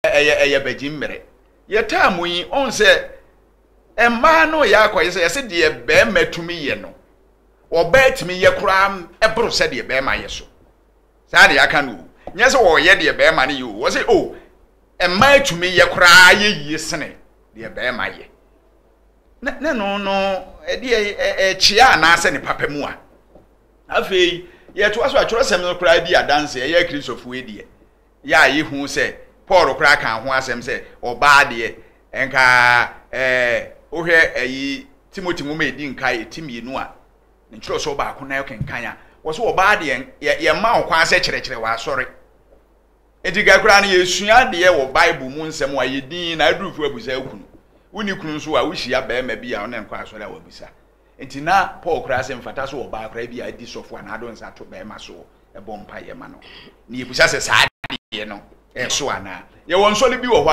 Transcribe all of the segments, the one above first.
Ɛyɛ ɛyɛ bɛgye mmere. Yɛ taa mu yi, ɔn sɛ mmaa no yɛ akɔyɛ sɛ yɛsɛ deɛ bɛɛma tumi yɛ no, ɔbaa tumi yɛ koraa ɛboro sɛ deɛ bɛɛma yɛ so. Saa deɛ aka no o. Nyɛ sɛ ɔyɛ deɛ bɛɛma no yɛ o. Ɔsɛ o, mmaa tumi yɛ koraa yɛ yie sene deɛ bɛɛma yɛ. Na, na no no, ɛdeɛ ɛkyea anaasɛ ne papa mu a. Afei, yɛtoa so a, twerɛsɛm no koraa di adanse, ɛyɛ Akristofoɔ deɛ. yɛ a yehu sɛ Paul koraa kaa ho asɛm sɛ ɔbaa deɛ nka ɛɛ wohwɛ ayi Timothy nwoma edi nkae ti mmienu a ne nkyerɛwsɛw baako na ɛkenkan a wɔsɛ ɔbaa deɛ yɛ yɛma wo kwan sɛ kyerɛkyerɛ w'asɔre eti ka koraa no yɛsua deɛ wɔ bible mu nsɛm a yɛ din na adurufo abusa akunu wonni kunu nso a wohyia barima bi a ɔne nkɔ asɔre a wabisa Enti na Paul koraa sɛ mfata sɛ ɔbaa koraa bi a adi sɔfo a n'ado nsa to barima so bɔ mpaeɛ ma no. Na yɛbisa sɛ saa adeɛ no ɛso anaa? Yɛwɔ nsɔre bi wɔ hɔ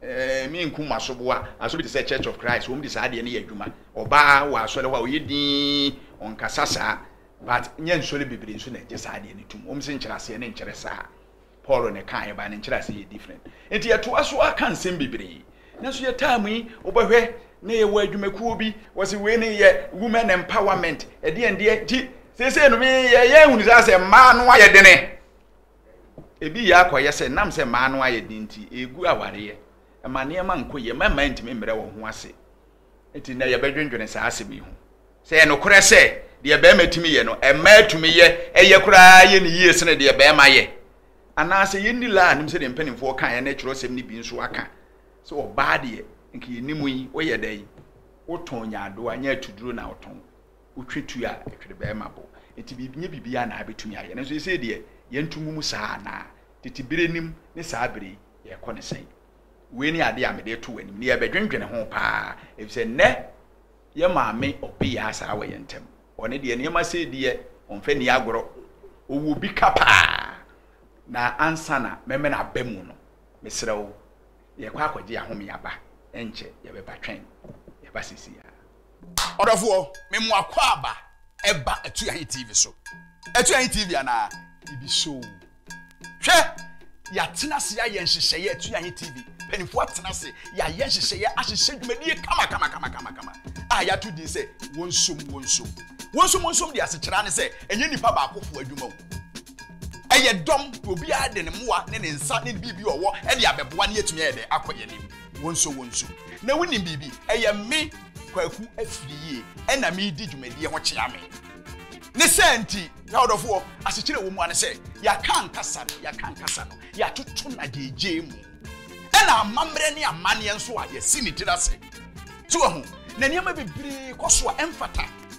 a me nkum asoboa, asɔre bi te sɛ Church of Christ, wɔn de saa adeɛ no yɛ adwuma. Ɔbaa wɔ asɔre hɔ a ɔyɛ dinn, ɔnkasa saa, but nyɛ nsɔre bebree nso na ɛgye saa adeɛ no tom. Wɔn se nkyerɛaseɛ no nkyerɛ saa. Paul na ɛka ɛbaa ne nkyerɛase yɛ different nti yɛtoa so ara ka nsɛm bebree nanso yɛ time yi wobɛhwɛ na yɛwɔ adwumakuo bi wɔsi wei ne yɛ women empowerment ɛdeɛ ndeɛ gye seesei no me yɛ yɛ ehunu sɛ asɛ mmaa no ayɛ dene ebi yɛ akɔyɛ sɛ nam sɛ mmaa no ayɛ den nti egu awareɛ ɛma nneɛma nkɔ yie mmarima ntumi mmerɛ wɔn ho ase Enti nnɛ yɛbɛdwendwene saa asɛm yi ho, Sɛ ɛyɛ nokorɛ sɛ deɛ barima tumi yɛ no, mmaa tumi yɛ, ɛyɛ koraa yɛ no yie sene deɛ barima yɛ? Anaasɛ yɛnni la anim sɛdeɛ mpanimfoɔ kaeɛ ne twerɛsɛm no bi nso aka sɛ ɔbaa deɛ nka yɛnni mu yi, woyɛ dɛn? Wotɔn nyaadoa, nyɛ atuduro na wotɔn, wotwe tu a ɛtwere barima bo. Enti biribi, nyɛ biribiara na abɛtumi ayɛ. Nanso seesei deɛ yɛnto ngu mu saa anaa? Tete berɛ nim ne saa berɛ yi, yɛrekɔ no sɛn? Wei ne ade a mede reto w'anim na yɛrebɛdwendwene ho paa, efisɛ nnɛ yɛn maame ɔpeyɛ asaa wɔ yɛn ntam. Ɔno deɛ nneɛma sei deɛ ɔmfa nni agorɔ. Ɔwɔ bi ka paa. Na ansa na mɛmɛn aba mu no, mesrɛ wo, yɛrekɔ akɔgye ahome aba. Ɛnkyɛ yɛbɛba. Twɛn. Yɛba seesei ara. Ɔdɔfoɔ, me mo akwaaba ɛba Atuahe TV so. Atuahe TV anaa? Bibi show. Hwɛ, yɛatena ase ayɛ nhyehyɛeɛ Atuahe TV. Mpanimfoɔ atena ase, yɛayɛ nhyehyɛeɛ ahyehyɛ dwumadie kama kama kama kama kama a yɛato din sɛ wɔnsom wɔnsom. Wɔnsom wɔnsom de asekyerɛ ne sɛ ɛnyɛ nipa baakofoɔ adwuma o. Ɛyɛ dɔm, obiara de ne mmoa ne ne nsa ne biribi ɔwɔ de abɛboa ne yɛatumi ayɛ dɛ akɔ yɛn anim. Wonsɔ wonsu. Na wonim biribi? Ɛyɛ me, Kwaku Afiriyie, ɛna meredi dwumadie ho kyea me. Ne saa nti, y'adɔfoɔ, asekyerɛ ɛwɔ mu ara ne sɛ, yɛaka ankasa no, yɛaka ankasa no, yɛatoto no agyeigyei mu. Ɛna amammerɛ ne amanneɛ nso a yɛasi ne tiri ase. So wahu? Na nneɛma bebree kɔ so a ɛmfata.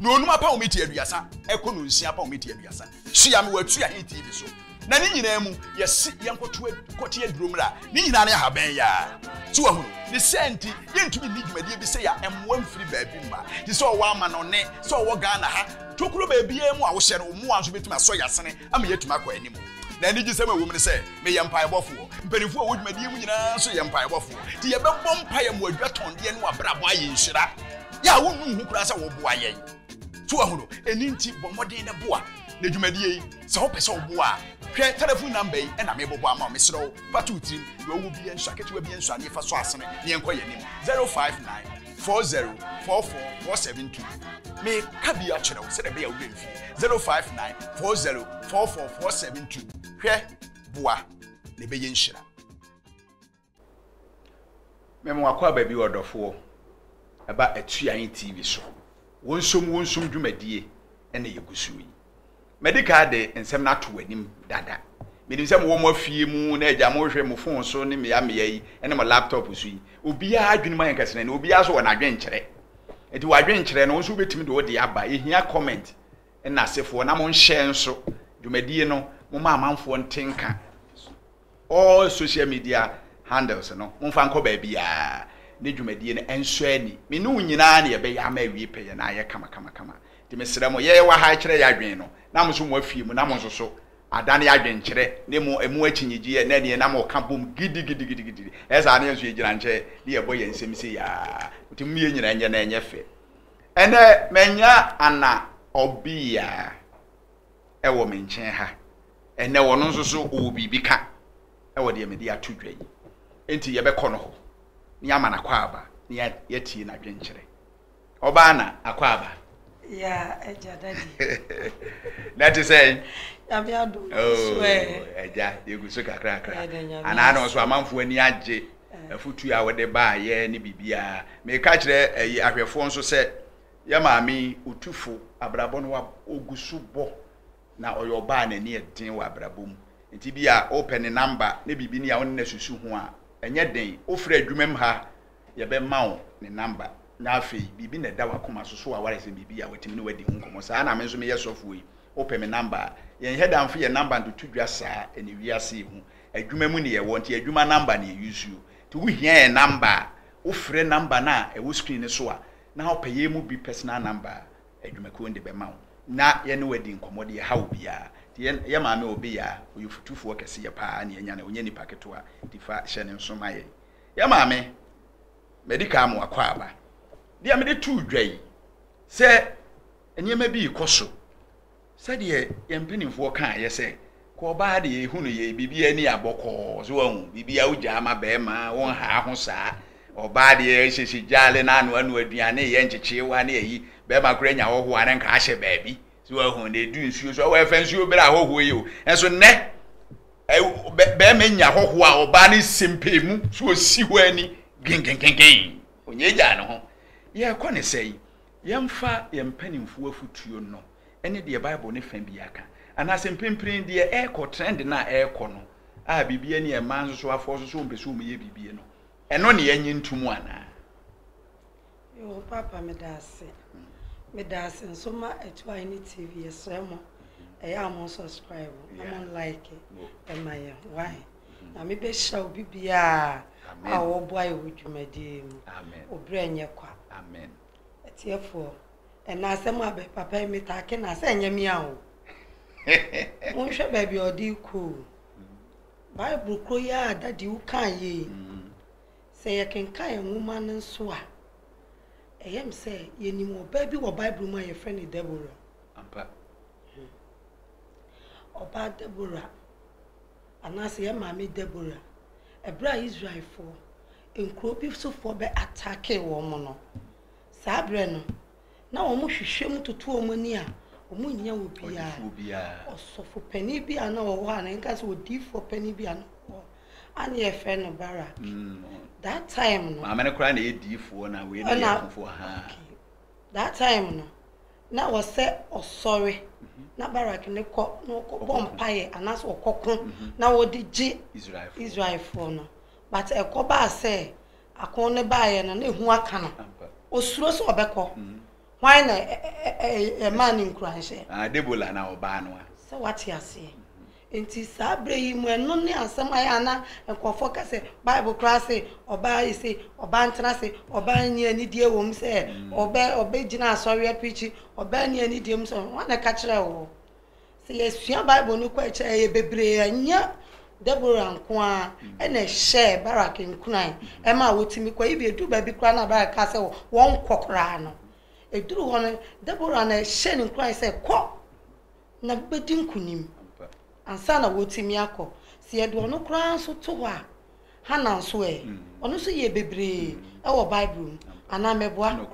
Na onum apɔwmiti aduasa ɛkɔ no nsia apɔwmiti aduasa. Tua me w'atua he TV so. Na ne nyinaa mu, yɛse yɛnkɔto kɔte aduro mmra. Ne nyinaa ne ahaban yaa. So wahunu? Ne saa nti, yɛntumi nni dwumadie bi sɛ ya mmoa mfiri baabi mma. Te sɛ ɔwɔ amanɔne, sɛ ɔwɔ Ghana ha, tokuro baabiara mu a wohyɛ no, wo mmoa nso bɛtumi asɔ y'asene ama yɛatumi akɔ anim. Na anigyesɛm a ɛwom ne sɛ, meyɛ mpaebɔfoɔ. Mpanimfoɔ a wɔwɔ dwumadie mu nyinaa nso yɛ mpaebɔfoɔ. Nti yɛbɛbɔ mpae ama wɔadwatɔndeɛ ne wɔabrabɔ ayɛ nhyira. Yɛ a wonnu ho koraa sɛ wɔboa yɛn. So wahu no? Ɛno nti bɔ mmɔden na boa. Na dwumadie yi, sɛ wopɛ sɛ woboa a, hwɛ telefon namba yi na mebobɔ ama wo. Mesrɛ wo, fa to wo tirim. Deɛ ɔwɔ biara nsɔ aketewa biara nsɔ adeɛ fa sɔ asene na yɛnkɔ yɛn anim. 059. four zero four four four seven two meka bi akyerɛ wo sɛdeɛ ɛbɛyɛ wobɛ mfie zero five nine four zero four four four seven two hwɛ boa na ɛbɛyɛ nhyira mɛma wakɔ aba bi wɔ dɔfoɔ ɛba atua yi tv so wɔnsom wɔnsom dwumadie ɛna yɛgu so yi Madi kan de nsɛm no ato w'anim dada. Menim sɛ mowɔ mo afie mu na agya mohwehwɛ mo fon so ne mmea mmea yi ne mo laptop so yi. Obiara adwenem ayɛ nkɛsenɛne, obiara nso wɔ n'adwenkyerɛ. Enti w'adwenkyerɛ no, wo nso wobɛtumi de wo deɛ aba. Yɛhia comment nnasefoɔ na monhyɛ nso dwumadie no, momma amanfoɔ nte nka. all social media handles no momfa nkɔ baabiaa ne dwumadie no ɛnsɔ ani me ne wo nyinaa na yɛbɛyɛ ama awie pɛyɛ na ayɛ kamakamakama nti mesrɛ mo yɛyɛ wɔ ha ɛkyerɛ yɛ adwene no na mo so mo afie mu na mo nso so adane yɛ adwene kyerɛ ne mo ɛmu akyinnyegyeɛ na ɛneɛ na mo ka bom gidigidigidi ɛsaa ne yɛn nso yɛgyina nkyɛ ne yɛbɔ yɛn nsɛm sei aa nti mo yɛ nyina nyɛ na ɛnyɛ fɛ ɛnɛ manya ana ɔbia wɔ me nkyɛn ha. Ɛnnɛ ɔno nso so ɔwɔ biribi ka wɔ deɛ mede ato dwa yi. Enti yɛbɛkɔ no hɔ na yɛama no akwaaba na yɛatie n'adwenkyerɛ. Ɔbaa na akwaaba? Ya, agya dadi. Na ɛte sɛn? Nyame adom nso ɛ. Agya, yɛgu so kakrakra. Anaa na nso amanfoɔ ani agye afutuo a wode baayɛ ne biribiara. Meka kyerɛ ahwɛfoɔ nso sɛ Yɛ maame yi otufo abrabɔ no wab, ogu so bɔ na ɔyɛ ɔbaa a n'ani yɛ den wɔ abrabɔ mu. Nti bia wopɛ ne namba ne biribi ne a wone no asusu ho a, ɛnyɛ den, wofrɛ adwuma mu ha a, yɛbɛma wo ne namba. Na afei, biribi na ɛda w'akoma so, so awaresɛm biribi a watumi ne wo adi ho nkɔmmɔ? Saa na me nso meyɛ sɔfoɔ yi, wopɛ me namba a. Yɛn Hɛdamfo yɛ namba ntotodwa saa, ɛne wiase yi ho. Adwuma mu ne yɛwɔ, nti adwuma namba ne yɛ use o. Nti wohia yɛn namba a, wofrɛ namba no a ɛwɔ screen no so a, na ɔpɛ yɛn mu bi personal number a, adwumakuo no de bɛma wo na yɛne wo adi nkɔmmɔ de ɛhaw obiara. Nti yɛn yɛn maame Obeyaa ɔyɛ ofutufoɔ kɛseɛ paa ne yɛnya no, ɔnyɛ nipa ketewa, nti fa hyɛ ne nso ma yɛn. Yɛn maame, madi kan ama wakɔ aba. Deɛ mede too dwa yi, sɛ nneɛma bi rekɔ so, Sɛdeɛ yɛn mpanimfoɔ kaeɛ sɛ, Kɔ ɔbaa deɛ ɛhu no yɛ biribiara ni a bɔkɔɔ so wahu biribiara wogyaa ma bɛrima wonhaa ho saa ɔbaa deɛ ɛhyɛhyɛ gyaale no ano ano aduane yɛ nkyekyeewa ne ayi bɛrima koraa nya hɔhoɔ a ne nka ahyɛ baabi so wahu na ɛdu nsuo so awɔ ɛfa nsuo berɛ a hɔhoɔ yi o ɛnso nnɛ bɛrima nya hɔhoɔ a ɔbaa no sempee mu so ɔsi hɔ ani genkenkenken ɔnyɛ gyaa ne ho yɛrekɔ ne sɛ yi Yɛmfa yɛn mpanimfoɔ afotuo no ne deɛ Bible no fã biara ka, anaasɛ mprempren deɛ ɛrekɔ, trend no a ɛrekɔ no a biribi ani a mmaa nsosowafoɔ nso sɛ wɔmpɛ sɛ wɔyɛ biribi no, ɛno na yɛnnye ntom anaa? Yoo paapa meda ase meda ase nso ma atuae ne tv yɛsrɛ mo ɛyɛ a mo subscribe na mo like ɛma yɛ why na mebɛhyira obi biara a wɔboa yɛ wɔ dwumadie mu obrɛ nyɛ kwa amen Atiefoɔ, ɛna asɛm a bɛ papa yi me taa ke na sɛ ɛnyɛ me a o. Monhwɛ baabi a ɔde rekɔ o. Bible koro yi a dadi wo kaa yie yi, sɛ yɛkenkan nwoma no nso a, ɛyɛ me sɛ yɛnim ɔbaa bi wɔ Bible mu a yɛfrɛ no Deborah. Ɔbaa Deborah. Anaasɛ yɛn maame Deborah, ɛberɛ a Israelfoɔ, nkuro bi sofoɔ bɛ attackee wɔn no, saa berɛ no, na wɔn hwehwɛ mu toto wɔn ani a, wɔn nnya obiara, ɔsɔfo panin bi a na ɔwɔ hɔ a, na yɛnka sɛ odiyifoɔ panin bi a na ɔwɔ hɔ, a na yɛfrɛ no Barak. Mm. That time no. Maame no koraa na ɛyɛ diyifoɔ na wei na yɛ afofoɔ, haa. Okay. That time no na ɔsɛ ɔsɔre na Barak ne kɔ na ɔkɔbɔ mpaeɛ anaasɛ ɔkɔko na wɔde gye Israelfoɔ no but ɛkɔ baa sɛ ako ne baeɛ no na ɛhu aka no ɔsuro sɛ ɔbɛkɔ hwan na ɛmaa ne nkuranhyɛ ah, Debola na ɔbaa no a sɛ wate aseɛ Enti saa berɛ yi mu ɛno ne asɛm a ɛyɛ a na nkurɔfoɔ ka sɛ Bible koraa se ɔbaa ese ɔbaa ntena ase, ɔbaa nni anidie wɔ mu sɛ ɔbɛ ɔbɛgyina asɔre apreakyi, ɔbaa nni anidie mu sɛ Hwan na ɛka kyerɛɛ wo? Sɛ yɛsua Bible no kɔ akyiri a yɛyɛ bebree ɛnyɛ Deborah nko ara ɛna ɛhyɛɛ Barak nkuran ɛmaa wɔtumi kɔ even ɛduru baabi koraa no a Barak kaa sɛ wɔnkɔ koraa no ɛduru hɔ no Deborah na ɛhyɛɛ no nkuran sɛ kɔ na wobɛdi nkonim ansa na wɔatumi akɔ. Sɛ yɛde ɔno koraa nso to hɔ a, Hana nso ɛ? Ɔno nso yɛɛ bebree wɔ Bible mu, anaa mɛboa?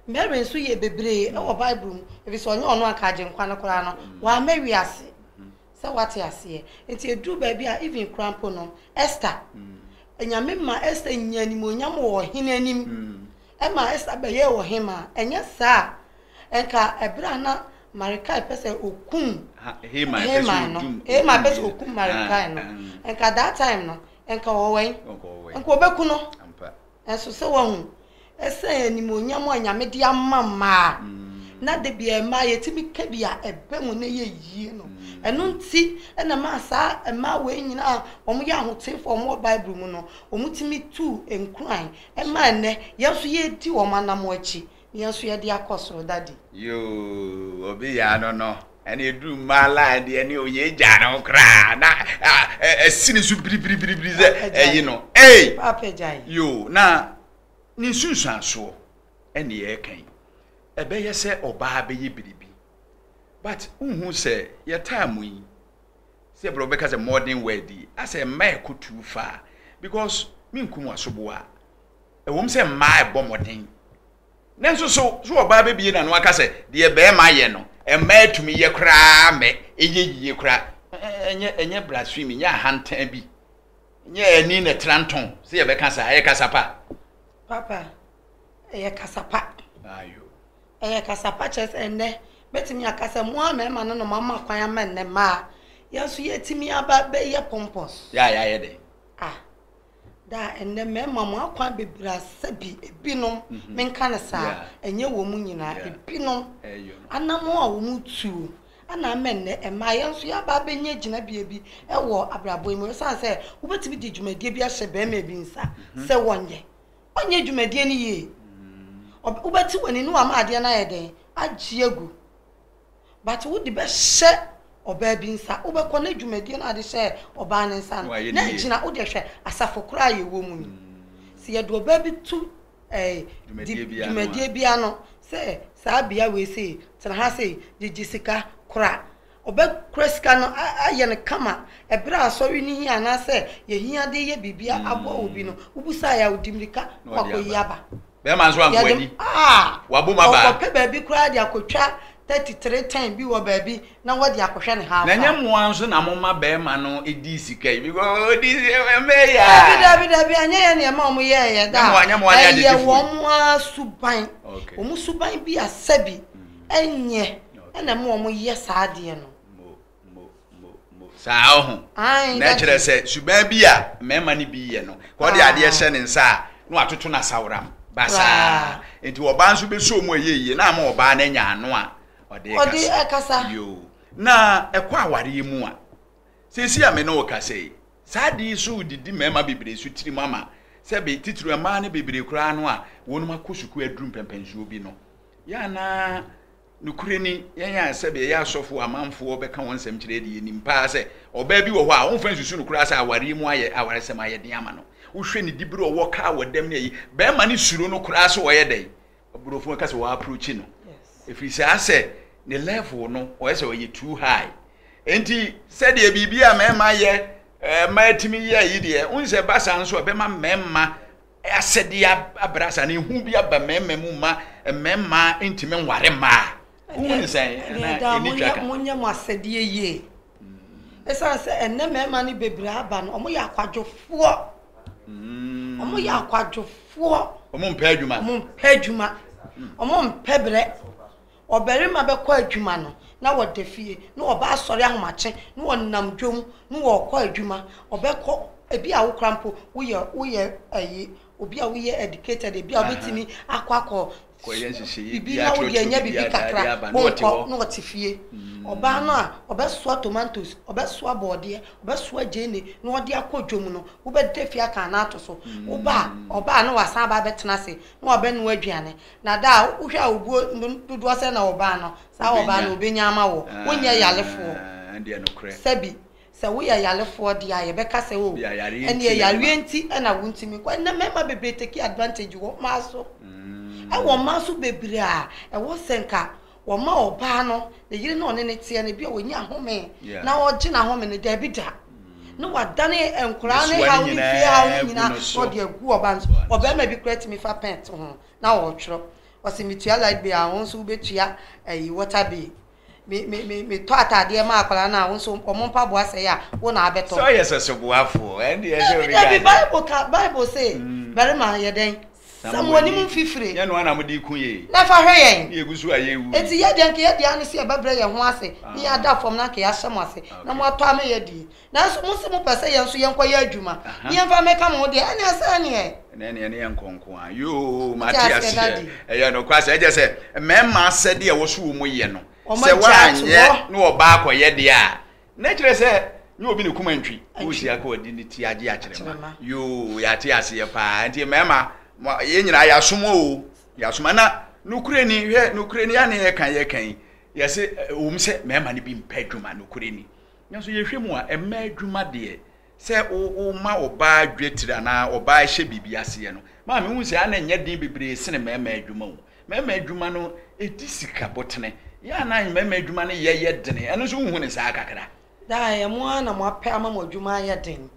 Mary nso yɛɛ bebree wɔ Bible mu, efisɛ ɔnyɛ ɔno anka Agyenkwa no koraa no, wamma wiase sɛ wate aseɛ. Nti ɛduru baabi a, even koraa mpo no, Esther, Nyame maa Esther nyaa animuonyam wɔ ɔhene anim. Ɛmaa Ester bɛyɛɛ ɔhemmaa. Ɛnyɛ saa a, anka bere a na Mardekai pɛ sɛ okum Haman no, Haman pɛ sɛ okum Mardekai no, anka that time no, anka ɔwɔ wɛn? Anka obeku no. Nanso sɛ wahu, ɛsɛn animuonyam a Nyame de ama mmaa, na da biara mmaa yɛtumi ka bi a ɛbɛ mu na ɛyɛ yie no, ɛno nti na ɛmaa saa mmaa wei nyinaa a wɔyɛ ahoteefo a wɔwɔ Bible mu no, wɔtumi tuu nkuran Ɛma ɛnnɛ yɛn nso yɛredi wɔn anamɔ akyi na yɛn nso yɛde akɔ soro daddy. Yoo obi yɛ ano no ɛna eduru mmaa line deɛ ne oyɛ egya no koraa na ɛsi ne so biribiribiri sɛ ɛyi no ei yoo na ne nsunsuansoɔ ɛne ɛka yi ɛbɛyɛ sɛ ɔbaa bɛyɛ biribi but wohu sɛ yɛ time yi sɛ brɛ wobɛka sɛ modern word yi asɛ mmaa ɛkɔ too far because menkum wasoboa ɛwom sɛ mmaa ɛbɔ mmɔden nanso so so ɔbaa bɛbie na no aka sɛ deɛ bɛrima yɛ no mmaa atumi yɛ koraa mɛ ɛyɛ yie koraa ɛnyɛ ɛnyɛ blasphemy nyɛ ahantan bi nyɛ ani na ɛtra ntɔn sɛ yɛbɛka saa ɛyɛ kasapa papa ɛyɛ kasapa ayo Ɛyɛ kasa pa kyerɛ sɛ ɛnnɛ mɛtumi aka sɛ mo a mɛma no nom ama kwan ama nnɛ mma a yɛn nso yɛatumi aba bɛyɛ pompous. Yɛ a yɛayɛ dɛ. A. Da a ɛnnɛ mɛma mo akwan bebree asa bi, ebinom, menka no saa, ɛnyɛ wɔn nyinaa, ebinom, anammɔn a wɔtuo na ama nnɛ mma a yɛn nso yɛaba abɛnya gyinabea bi wɔ abrabɔ yi mu. Esiane sɛ wobɛtumi de dwumadie bi ahyɛ barima bi nsa sɛ wɔnyɛ, Ɔnyɛ dwumadie no yie. Ɔb wobɛte w'ani na wama adeɛ no ayɛ dɛn? Agye agu. But wode bɛhyɛ ɔbaa bi nsa, wobɛkɔ na dwumadie no a wode hyɛɛ ɔbaa no nsa no, Wayɛ no na yie. gyina, wodeɛ hwɛ, asafo koraa a yɛwɔ mu no, sɛ yɛde ɔbaa bi to eh, Dwumadie di- bi ano a. dwumadie bi ano sɛ saa bea wei sei, tena ha sei, gyegye sika, kora, Wɔbɛkora sika no ayɛ no kama. Bere a asɔre no hia anaasɛ yehia de reyɛ biribi aboa obi no, wubisae a, ɔde mmirika kɔ akoyi aba. Bɛrima nso anko anni. Wabom aba. Ɔkɔpɛ baabi koraa de akotwa thirty three ten bi wɔ baabi na wɔde akɔhwɛ no haafa. Na ɛnyɛ mo ara nso na moma bɛrima no di sika yi because odi mmɛɛ yi a. Dabi, dabi, dabi, ɛnyɛ yɛn na yɛma wɔn yɛeɛ da. Ɛyɛ wɔn ara suban. Wɔn suban bi asɛ bi. Ɛnyɛ ɛna ɛma wɔn yɛ saa adeɛ no. Saa ɔho. Na ɛkyerɛ sɛ suban bi a mmarima no bi yɛ no, ka ɔde adeɛ hyɛ ne nsa a, na watoto no asaworam basaa. Nti ɔbaa nso bɛsɔ wɔn a ɛyɛ yie na ama ɔbaa no anya ano a ɔde kasa. Yoo. Na ɛkɔ awareɛ mu a, seesei a me ne wo kasa yi, saa adeɛ yi so didi mmarima bebree so tirim ama sɛbe titiri mmaa no bebree koraa no a wɔn akɔ sukuu aduru mpɛmpɛnsoɔ bi no. Yɛ a na nokorɛ ni yɛn a sɛdeɛ ɛyɛ asɔfoɔ amanfoɔ bɛka wɔn nsɛm kyerɛ deɛ yɛnim paa sɛ ɔbaa bi wɔ hɔ a womfa nsusu no koraa sɛ awareɛ mu ayɛ awaresɛm ayɛ den ama no wohwɛ ne dibere ɔwɔ kaa wɔ dɛm ne ayi bɛrima no suro no koraa sɛ ɔyɛ dɛn aburofo ka sɛ wɔaprochi no ɛfiri saa sɛ ne level no ɔyɛ sɛ ɔyɛ too high enti sɛdeɛ biribi a mmarima yɛ mmaa tumi yɛ yi deɛ wonsɛ ba saa nso a bɛma mmarima Asɛdeɛ abrɛ saa no, ehu bi aba mmarima mu ma mmarima ntumi nware mmaa. Wohu ne sɛn? Ɛnɛ daa monyɛ monyɛ mo asɛdeɛ yie. Ɛsiane mm. sɛ ɛnɛ mmarima no bebree aba no, wɔyɛ akwadwofoɔ. Mm. Wɔyɛ akwadwofoɔ. Wɔn mpɛ adwuma. Wɔn mpɛ adwuma. Mm. Wɔn mpɛ brɛ. Ɔbarima bɛkɔ adwuma no na wada fie, na ɔbaa asɔre ahomakye na wɔnam dwom na wɔkɔ adwuma, ɔbɛkɔ ebi a wo kora mpo woyɛ woyɛ ɛyi obi a woyɛ educated ebi a wobɛtumi akɔ akɔ bibi na wode anya bibi kakra wonkɔ na ɔte fie ɔbaa no a ɔbɛsoa tomatoes ɔbɛsoa bɔɔdeɛ ɔbɛsoa gyeene na ɔde akɔ dwom no wobɛda fie aka no ato so woba a ɔbaa na wasan aba abɛtena ase na wabɛnoa aduane Na da a wohwɛ a obuo dodoɔ sɛ na wɔbaa no, saa wɔbaa no wɔbɛnya ama wo. Wonyɛ yarefoɔ. Sɛbi, sɛ woyɛ yarefoɔ deɛ a, yɛbɛka sɛ o, ɛnneɛ yareɛ nti na wontumi nkɔ. Ɛnnɛ mmarima bebree take advantage wɔ mmaa so. Ɛwɔ mmaa so bebree a ɛwɔ sɛ nka wɔma ɔbaa no, ne yere na ɔne no teɛ no, ebia ɔnya home na ɔregye n'ahome no, daabi da. Mm. Na wadane nkwadaa ne haw ne fie haw no nyinaa na ɔde agu ɔbaa no so. Ɔbarima bi koraa tumi fa pɛn to ho na ɔretwerɛ. Ɔsɛ metua light bill a, wɔn nso wobɛtua ayi water bill. Me me me metɔ ataadeɛ ma akwadaa no a, wɔn nso wɔn mpaboa sɛe a, wo na abɛtɔ. Sɛ ɔyɛ sɛ soboafoɔ, ɛnde ɛsɛ obi ka. Dabi Bible ka Bible se, mm. barima yɛ dɛn? Sa mo anim mfifire. Nyɛ noa na mo de ku yee. Na fa hwɛ yɛn. Na yegu so a yɛrewu yi. Enti yɛn deɛ anka yɛadi ano sɛ yɛbɛbrɛ yɛn ho ase ne yɛn ada fam na anka yɛahyɛ mo ase na moatɔ ama yɛadi. Nanso mose mopɛ sɛ yɛn nso yɛnkɔyɛ adwuma ne yɛmfa mmɛka mo ho deɛ, ɛnneɛ ɛsɛ ɛnneɛ. Ɛnneɛ ne yɛne yɛn nkɔ nko ara. Yoo, mate aseɛ. Ɛyɛ nokware sɛ, ɛkyerɛ sɛ, mmarima asɛdeɛ a ɛwɔ so wɔ mu yɛ no, sɛ wɔanyɛ na ɔbaa kɔyɛ deɛ a, Na kyerɛ sɛ nyɛ obi ne kuma ntwi. Wosi akɔ ɔde ne ti agye akyerɛma. Yoo yɛate aseɛ paa nti mmarima yɛn nyinaa yɛasom o yɛasom na nokorɛ ni hwɛ nokorɛ ni ane yɛka yɛka yi yɛse wɔm sɛ mmarima no bi mpɛ adwuma nokorɛ ni nanso yɛhwɛ mu a mmaa adwuma deɛ Sɛ woma ɔbaa dwetire anaa ɔbaa hyɛ biribi aseɛ no, ma mehu sɛ a na ɛnyɛ den bebree sene mmarima adwuma o. Mmarima adwuma no, ɛdi sika botene. Yɛ a na mmarima adwuma no yɛ yɛ dene. Ɛno nso wonhu no saa kakra? Daa ɛyɛ mo ara na moapɛ ama mo adwuma ayɛ den.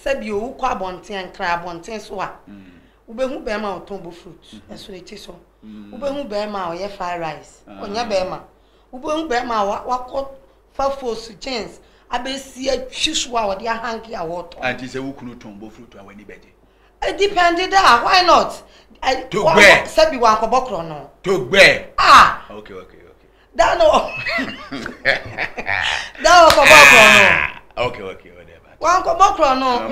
Sɛbio, wokɔ abɔnten a, nkran abɔnten so a, wobɛhu barima a ɔtɔn bofrot, ɛsono ti so. Wobɛhu barima a ɔyɛ fry rice, ɔnyɛ barima. Wobɛhu bɛɛma a wakɔ fa fos gyens abɛsi atwi so a ɔde ahanke a wɔtɔn. Anti sɛ wo kunu tɔn bofrotu a w'ani bɛgye? Edipɛnde daa, why not? Togbɛ! Sɛbi wankɔbɔ korɔ no. Togbɛ! Ah! Okay, okay, okay. Daa no. Daa ɔkɔbɔ korɔ no. Okay, okay, whatever. Wankɔbɔ korɔ no.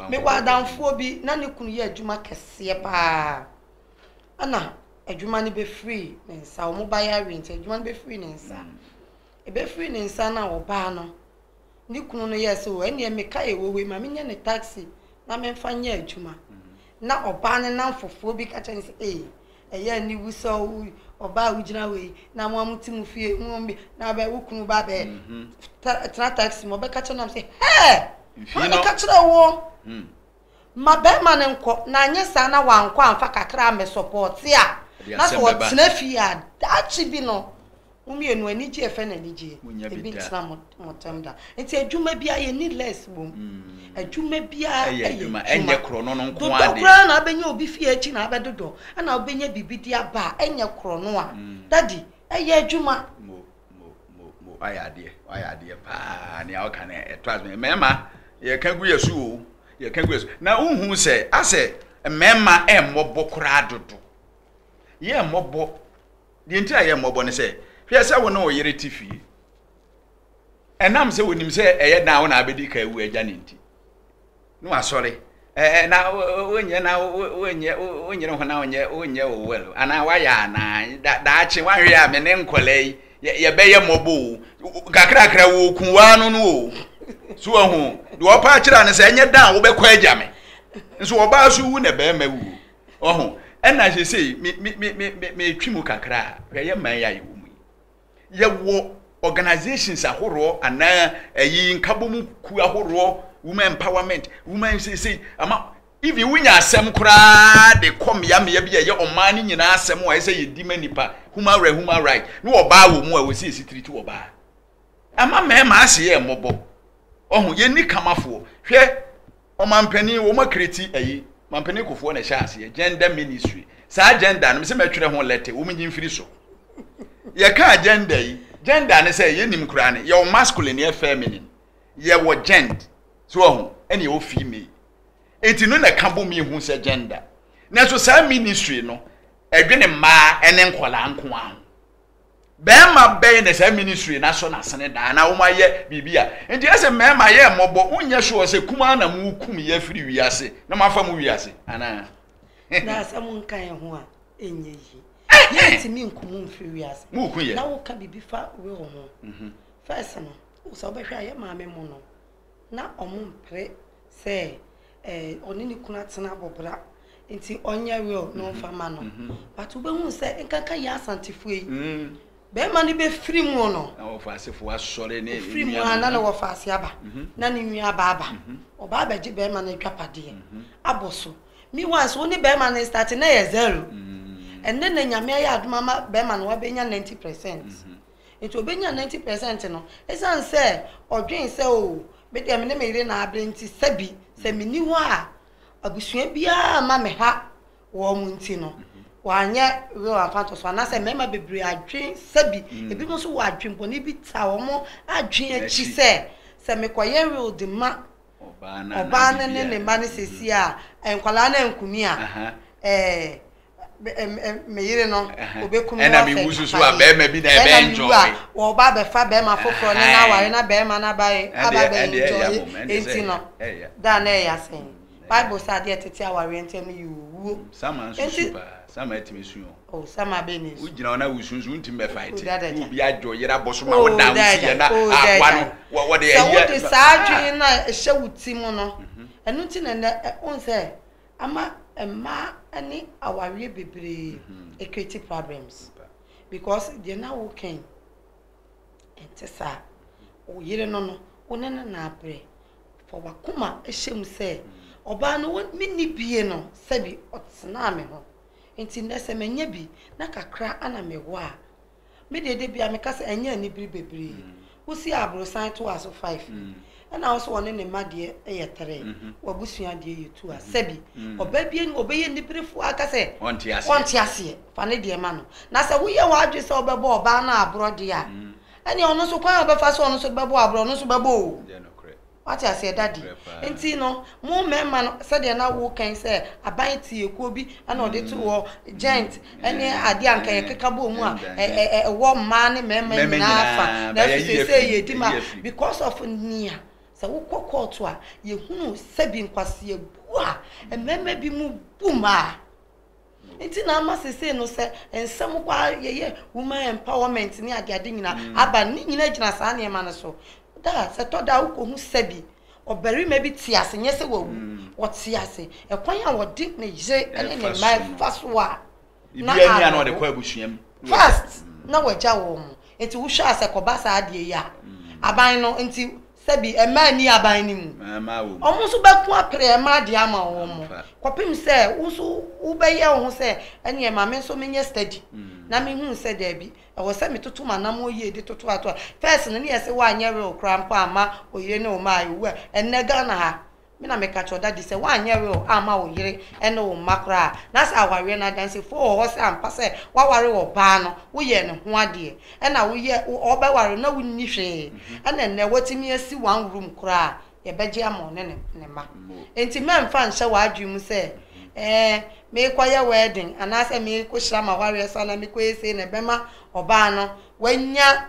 Mewɔ adamfoɔ bi na ne kunu yɛ adwuma kɛseɛ paa. Ɛna adwuma no bɛfiri ne nsa, wɔbaeɛ awie nti adwuma no bɛfiri ne nsa. Ɛbɛfiri ne nsa no a ɔbaa no, ne kunu no yɛɛ sɛ, ɛnneɛ meka yɛ wɔ wei ma menyɛ ne taxi na memfa nyɛ adwuma. Na ɔbaa no namfofoɔ bi ka kyerɛ no sɛ, ee, ɛyɛ aniwu sɛ ɔbaa a wogyina wei na mo a mote mo fie mo bi na bɛ wo kunu ba bɛ tena taxi mu ɔbɛka kyerɛ nam sɛ, hɛɛ, hwan na ɛka kyerɛ woɔ? Ma bɛrima no nkɔ na anyɛ saa na wankɔ amfa kakra ammɛsɔpɔɔte a, na sɛ ɔtena fie a, daakye bi no mo mmienu ani gye ɛfɛ na anigyeɛ ebi ntena mo ntam da. Nti adwuma biara yɛnni less wɔ mu. Adwuma biara yɛ adwuma. Dodɔ koraa na abɛnya obi fie akyi na abɛdodɔ na wobɛnya biribi de aba a, ɛnyɛ korɔno a. Daddy, ɛyɛ adwuma. mo mo mo wayɛ adeɛ wayɛ adeɛ paa nea ɔka no ɛtɔ ase mmarima yɛka gu yɛ so o yɛka gu yɛ so na wohu sɛ asɛ mmarima ɛmmɔbɔ koraa dodo yɛ mmɔbɔ deɛ nti a yɛ mmɔbɔ no sɛ hwɛ sɛ wo ne wo yere te fie ɛnam sɛ wonim sɛ ɛyɛ dan wo na abɛdi ka awu agya ne nti na wasɔre eh eh na wonyɛ na wonyɛ wonyere ho na wonyɛ wonyɛ o well anaa wayɛ anaa da daakye wanhwɛ a me ne nkɔla yi yɛbɛyɛ mmɔbɔ o kakrakra wɔ okun waa no no o so ahu deɛ ɔpa akyerɛ no sɛ ɛnyɛ dan a wobɛkɔ agya me nso ɔbaa so wu na bɛrima wu ɔho ɛna sesei metwi mu kakra a hwɛ yɛ man yɛ a yɛwɔ mu yi Yɛwɔ organisations ahoroɔ anaa ɛyi nkabom kuo ahoroɔ women empowerment women seesei ama even wonya asɛm koraa de kɔ mmeammea bi a ɛyɛ ɔman no nyinaa asɛm a ɛsɛ yɛdi ma nipa human right human right ne ɔbaa wɔ mu a wɔsi esi tiri ti ɔbaa ama mmarima ase yɛ mmɔbɔ ɔho yɛnni kamafoɔ hwɛ Ɔmanpanin wɔn akiriti ayi manpanin kofoɔ na ɛhyɛ aseɛ gender ministry saa gender no mesɛ mɛtwerɛ ho lɛte wɔn nyi mfiri so yɛka gender yi gender ne sɛ yɛnim koraa ne yɛwɔ masculine yɛ feminine yɛwɔ gent so ɔho ɛne yɛwɔ female enti no na ɛka bom yi hu sɛ gender nanso saa ministry no ɛdwene mmaa ne nkɔlaa nko ara ho bɛɛma bɛn na saa ministry na so n'asene daa na wɔn ayɛ biribi a nti ɛsɛ mmarima yɛ mmɔbɔ wonyɛ sure sɛ kumaa na mo kum yɛ firi wiase na mo afa mo wiase anaa. na asɛm nka yɛn ho a ɛnyɛ yie yɛntumi nkumu mfiri wiase na woka biribi fa will ho fɛs no sɛ wobɛhwɛ a yɛ maame mu no Ná wɔmpere sɛ ɔne ne kunu atena abɔbra nti ɔnyɛ will na ɔmfa ma no. But wobɛhu sɛ nkanka yɛn Asantefoɔ yi, bɛrima no bɛfiri mu no, na wɔfa asefoɔ asɔre ne ɔfiri mu a na ne wɔfa ase aba, na ne nua aba aba, ɔba abɛgye bɛrima no adwapadeɛ abɔ so. Meanwhile nso, wo ne bɛrima no starte na ɛyɛ zero. Ɛnnɛ na Nyame ayɛ adom ama bɛrima no wabɛnya 90 percent. Enti ɔbɛnyaa ninety percent no ɛsiane sɛ ɔdwen sɛ oo me deɛ me ne me yere na abrɛ nti sɛbi sɛ menni hɔ a abusua biara mma me ha wɔn nti no wanyɛ real afatoso anaasɛ mmarima bebree adwen sɛbi ebi mo nso wɔ adwen bɔne bi ta wɔn adwen akyi sɛ sɛ mekɔyɛ real de ma ɔbaa no ne ne mma no sɛsi a nkwadaa no ankumi a ɛɛ me yere no obekum no afɛ wususu a bɛrima bi na ɛbɛ enjoy ɛna ɔba abɛfa bɛrima foforɔ ne na aware na bɛrima na ba aba bɛ enjoy enti no da na ɛyɛ asɛn bible sɛ adeɛ tete awareɛ ntɛm no yɛ owuo sama nsusu paa sama ɛtumi su yɛn o sama bɛ ne su wogyina hɔ na wosunsu ntumi bɛ fight wo bi adwo yere abɔ so ma wo dan wo si yɛ na aboa no wɔde ɛyɛ sɛ wode saa adwene na ɛhyɛ wo ti mu no ɛno ti na ɛnɛ ɔn sɛ Ama mmaa ne awareɛ bebree ɛcreate problems because deɛ na woka yi ɛnte saa. Wo yere no no wo ne no na abrɛ. Fa wakoma hyɛ mu sɛ ɔbaa no menni bie no sɛbi ɔtenaa me ho nti nnɛ sɛ manya bi na kakra ana mewɔ a Me deɛ da biara meka sɛ ɛnyɛ anibere bebree. Wosi aborosan to a so five ni? Ɛna wo so ɔne ne mma deɛ yɛ tere. W'abusua deɛ yɛ two a sɛbi. Ɔbaa biara ni hɔ ɔbɛyɛ aniberefoɔ ara aka sɛ ɔnte aseɛ. Fa ne deɛ ma no. Na sɛ woyɛ w'adwene sɛ wobɛbɔ ɔbaa no aborɔ deɛ a, ɛneɛ ɔno nso kwan a ɔbɛfa so a ɔno nso de bɛbɔ aborɔ ɔno nso bɛbɔ o. Wate aseɛ, Daddy? Nti no, mo mmarima no, sɛdeɛ na woka yi sɛ aban tiekuo bi na wɔde too hɔ, Ghent ne adeɛ a anka yɛkeka bɔɔ mu a, ɛ, ɛ, ɛ, ɛwɔ mmaa ne mmarima Mmarima nyinaa nyinaa, fa, nanso but yɛayi afiri. seesei yɛdi Yɛayi ma, afiri. because of nea, sɛ wokɔ kɔɔto a, yɛhunu sɛbi nkwaseabu a mmarima binom bu mmaa. Nti na ama sesei no sɛ nsɛm kɔ ara yɛyɛ woman empowerment ne adeade nyina aba no, ne nyina gyina saa nneɛma no so. Da a, sɛ ɛtɔ da a wokɔhu sɛbi ɔbarima bi te ase, nyɛ sɛ wawu, ɔte ase, ɛkwan a ɔde ne yere ne ne mma fa so a, na awerɛho. First, na wagya wɔn. Nti wohwɛ a sɛ ɛkɔba saa adeɛ yi a, aban no nti. Sɛ bi, mmaa nni aban no mu. Wɔn nso bɛko apere mmaa deɛ ama wɔn, kɔpem sɛ wo nso wobɛyɛ wo ho sɛ ɛneɛ ma me nso menyɛ study na mehunu sɛ daabi, ɛwɔ sɛ metoto m'anammɔn yie de toto ato a. First no, ne yɛse woanyɛ will koraa mpo amma oyere ne wo mma awu a, ɛnnɛ Ghana ha, Me na meka kyerɛ wo, Daddy, sɛ woanyɛ will amma wo yere ne wo mma koraa a, na sɛ awareɛ no adansifoɔ wɔ hɔ sɛ ampa sɛ woaware ɔbaa no, woyɛɛ ne ho adeɛ, ɛna woyɛ, ɔbɛware no na wonni hwee, ɛna nnɛ woatumi asi one room koraa a, yɛbɛgye ama ɔne ne ne mma. Enti mɛmfa nhyɛ w'adwene mu sɛ, ɛɛ, merekɔyɛ wedding anaasɛ merekɔhyira m'awareɛ so anaa merekɔyɛ sei na ɛbɛma ɔbaa no wanya.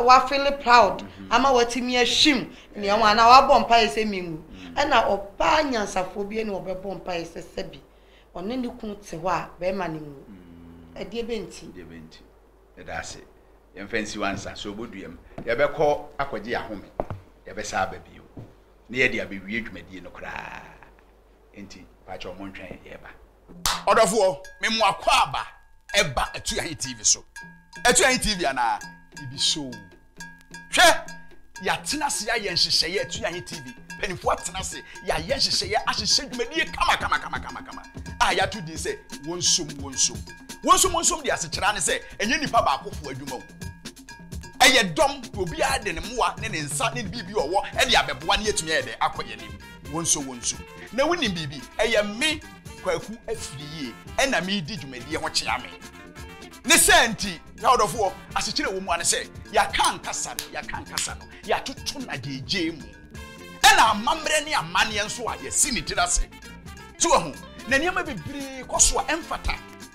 wafeele proud ama watumi ahwim nea ɔwɔ anaa wabɔ mpaeɛ sɛ menwu ɛna ɔbaa nyansafoɔ bi ne ɔbɛbɔ mpaeɛ sɛ sɛbi ɔne ne kunu te hɔ a bɛrima no nwu ɛdeɛ bɛ nti ɛdeɛ bɛ nti ɛda ase yɛmfa nsi wansa sɛ ɔbɔduam yɛbɛkɔ akɔgye ahome yɛbɛsa aba bio ne yɛde abɛwie dwumadie no koraa nti pakyɛ ɔmo ntwɛn yɛba Ɔdɔfoɔ, me mo akɔ aba ɛba Atuahe TV so. Atuahe TV anaa? Ibi so. Hwɛ, yɛatena ase ayɛ nhyehyɛeɛ Atuahe TV. Mpanimfoɔ atena ase, yɛayɛ nhyehyɛeɛ ahyehyɛ dwumadie kama kama kama kama kama a yɛato din sɛ wɔnsom wɔnsom. Wɔnsom wɔnsom de asekyerɛ ne sɛ ɛnyɛ nipa baakofoɔ adwuma o. Ɛyɛ dɔm, obiara de ne mmoa ne ne nsa ne biribi ɔwɔ ɛde abɛboa ne yɛatumi ayɛ dɛ akɔ yɛn anim. Wonsɔ wonsu. Na wonim biribi? Ɛyɛ me, Kwaku Afiriyie, ɛna meredi dwumadie ho kyea me. Ne saa nti, y'adɔfoɔ, asekyerɛ ɛwɔ mu ara ne sɛ, yɛaka ankasa no, yɛaka ankasa no, yɛatoto no agyeegyee mu. Ɛna amammerɛ ne amanneɛ nso a yɛasi ne tiri ase. So wahu? Na nneɛma bebree kɔ so a ɛmfata.